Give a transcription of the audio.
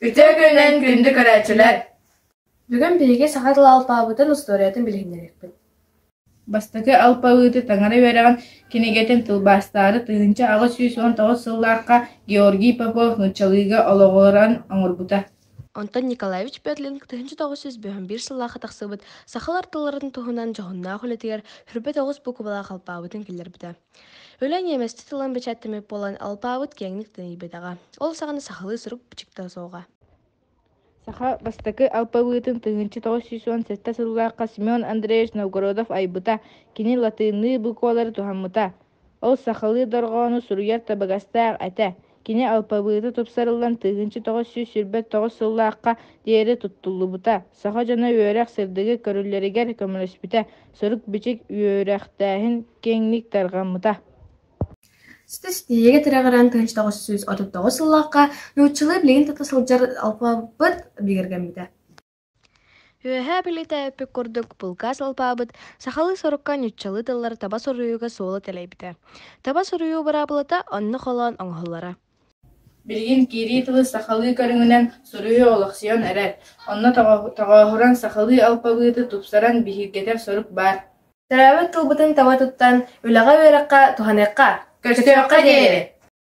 Үтө күнүнэн күндү көрөөччүлэр! Бүгүн биһиги саха тыл алпаабытын устуоруйатын билиһиннэриэхпит. Бастакы алпавыты таҥара үөрэҕин кинигэтин тылбаастаары тыһыынча аҕыс сүүс уон тоҕус сыллаахха Георгий Попов нууччалыыга олоҕуран оҥорбута. Онтон Николаевич Петлин тыһыынча тоҕус сүүс бөһүм биир сыллаахха тахсыбыт сахалар тылларын туһунан дьоһуннаах үлэтигэр сүрбэ тоҕус букубалаах алпаабытын киллэрбитэ. Үлэ ньиэмэсчи тылын бэчээттэммит буолан, алпаабыт киэҥник тэнийбэтэҕэ. Ол саҕана сахалыы сурук-бичиктэ суоҕа. Саха бастакы алпабыытын тыһыынча тоҕус сүүс уон сэттэ сыллаахха Семен Андреевич Новгородов айбыта, кини латыынныы буквалары туһаммыта. Ол сахалыы дорҕоону суруйар табыгастаах этэ. Кини алпабыыта тупсарыллан тыһыынча тоҕус сүүс сүүрбэ тоҕус сыллаахха диэри туттуллубута. Саха дьоно үөрэх сырдыгы көрүүлэригэр көмөлөспүтэ, сурук-бичик үөрэхтээһин киэҥник тарҕаммыта. Ситис тиийиигэ тирэҕирэн тыһыынча тоҕус сүүс отут тоҕус сыллаахха нууччалыы билигин тута сылдьар алпаабыт бигэргэммитэ Үөһээ Бүлүүтэ эппит курдук, булгас алпаабыт сахалыы сорукка нууччалыы тыллары таба суруйууга суола тэлэйбитэ. Таба суруйуу быраабылата онно холоон оҥоһуллара. Билигин киирии тылы сахалыы көрүҥүнэн суруйуу олохсуйан эрэр, онно тоҕооһуран сахалыы алпабыты тупсаран биһиргэтэр сорук баар. Төрөөбүт тылбытын таба туттан, үлэҕэ-үөрэххэ туһаныахха, көччөххө диэри!